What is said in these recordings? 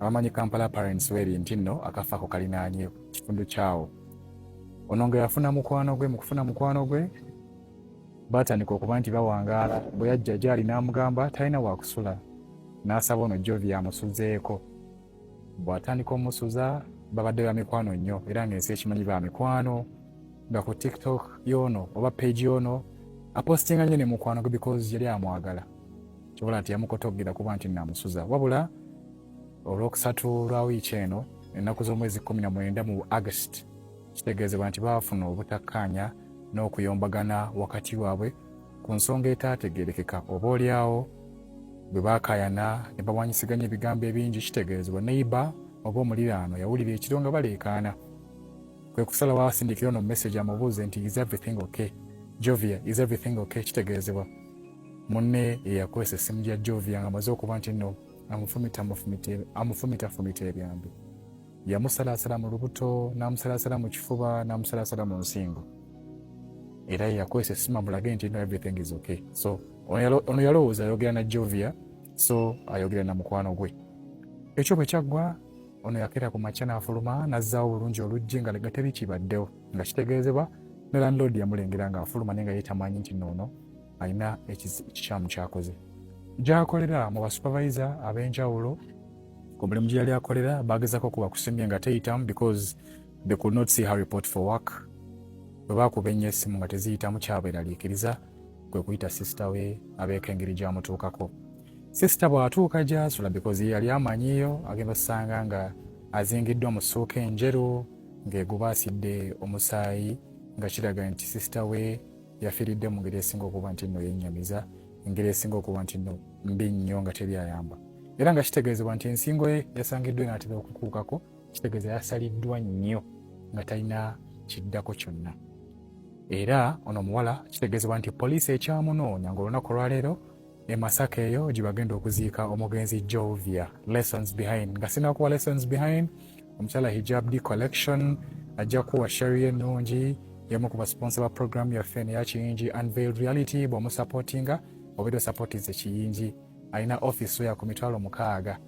abamanyi kampala parents weri nti nno akafa ako kalinaanye kitundu kyawo ono nga yafuna mukwano gwe mu kufuna mukwano gwe baatandika okuba nti bawangaala bwe yajja gyali n'amugamba talina wakusula n'asaba ono jovi amusuzeeko bw'atandika omusuza babadde ba mikwano nnyo era ng'ensi ekimanyi ba mikwano nga ku tiktok yoono oba page yoono apostinga nnyo ne mukwano gwe because yali amwagala kyobola nti yamukotoggera kuba nti namusuza wabula olwokusatu lwa wiiki eno ennaku z'omwezi kumi na mwenda mu agusiti kitegeezebwa nti baafuna obutakkaanya n'okuyombagana wakati waabwe ku nsonga etaategeerekeka oba olyawo bwe baakaayana ne bawanyisiganya ebigambo ebingi kitegeezebwa neiba oba omuliraano yawulira ekiro nga baleekaana kwe kusala waasindikira ono mumesegi amubuuze nti is everything okay jovia is everything okay kitegeezebwa munne eyakozesa essimu gya Jovia nga amaze okuba nti nno amufumitafumita ebyambi yamusalaasala mu lubuto n'amusalaasala mu kifuba n'amusalaasala mu nsingo era yakozesa essimu amulage nti no everything is okay so ono yalowooza ayogera na Jovia so ayogera na mukwano gwe ekyo bwe kyaggwa ono yakeera ku makya n'afuluma n'azzaawo obulungi oluggi nga legateri kibaddewo nga kitegeezebwa ne landlord yamulengera ng'afuluma naye nga ye tamanyi nti noono alina ekikyamu kyakoze gyakolera mu basupervisa ab'enjawulo ku mulimu gye yali akolera baagezako kuba kusimye nga teyitamu because they could not see her report for work bwe baakuba ennyo essimu nga teziyitamu kyabweraliikiriza kwe kuyita sisita we abeeko engeri gyamutuukako sisita bw'atuuka gyasula because ye yali amanyiyo agenda osanga nga azingiddwa mu ssuuka enjeru ng'eguba asidde omusaayi nga kiraga nti sisita we yafiiridde mu ngeri esinga okuba nti nno yennyamiza engeri esinga okuba nti nno mbi nnyo nga teri ayamba era nga kitegeezebwa nti ensingo ye yasangiddwa enaatera okukuukako kitegeeza yasaliddwa nnyo nga talina kiddako kyonna era ono omuwala kitegeezebwa nti poliisi ekyamunoonya ngaolunaku olwaleero e Masaka eyo gye bagenda okuziika omugenzi Jovia. Lessons behind nga sinakuwa lessons behind omukyala hijab d collection ajja kuwa sharia ennungi emu ku basiponsa ba programu yaffe neya kiyingi unveiled reality bw'omusapootinga obeera osapootinze ekiyingi alina office oya ku mitwalo mukaaga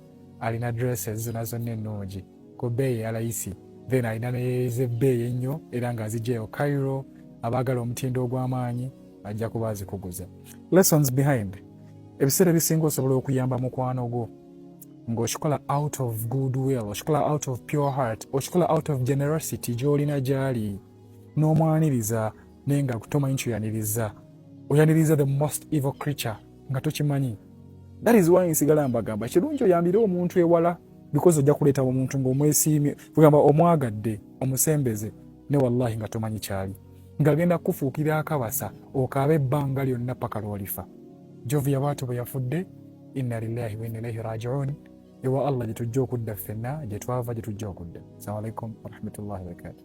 alina dresses zona zonna ennungi ku bbeeyi eyalayisi then alina nezebbeeyi ennyo era nga azijjayo cairo abaagala omutindo ogw'amaanyi ajja kuba azikuguza lessons behind ebiseera ebisinga osobola okuyamba mukwano gwo ng'okikola out of good will okikola out of pure heart okikola out of generosity gy'olina gy'ali n'omwaniriza naye nga tomanyi kyoyaniriza oyaniriza the most evil creature nga tokimanyi that is why nsigala mbagamba kirungi oyambire omuntu ewala because ojja kuleeta omuntu ng'omwesiimye kugamba omwagadde omusembeze ne wallahi nga tomanyi kyali ng'agenda kukufuukira akabasa okaaba ebbanga lyonna paka lwolifa jovia bwatyo bwe yafudde inna lillahi wa inna ilaihi rajiun ewa allah gye tujja okudda ffenna gye twava gye tujja okudda assalamu alaikum warahmatullahi wabarakatuh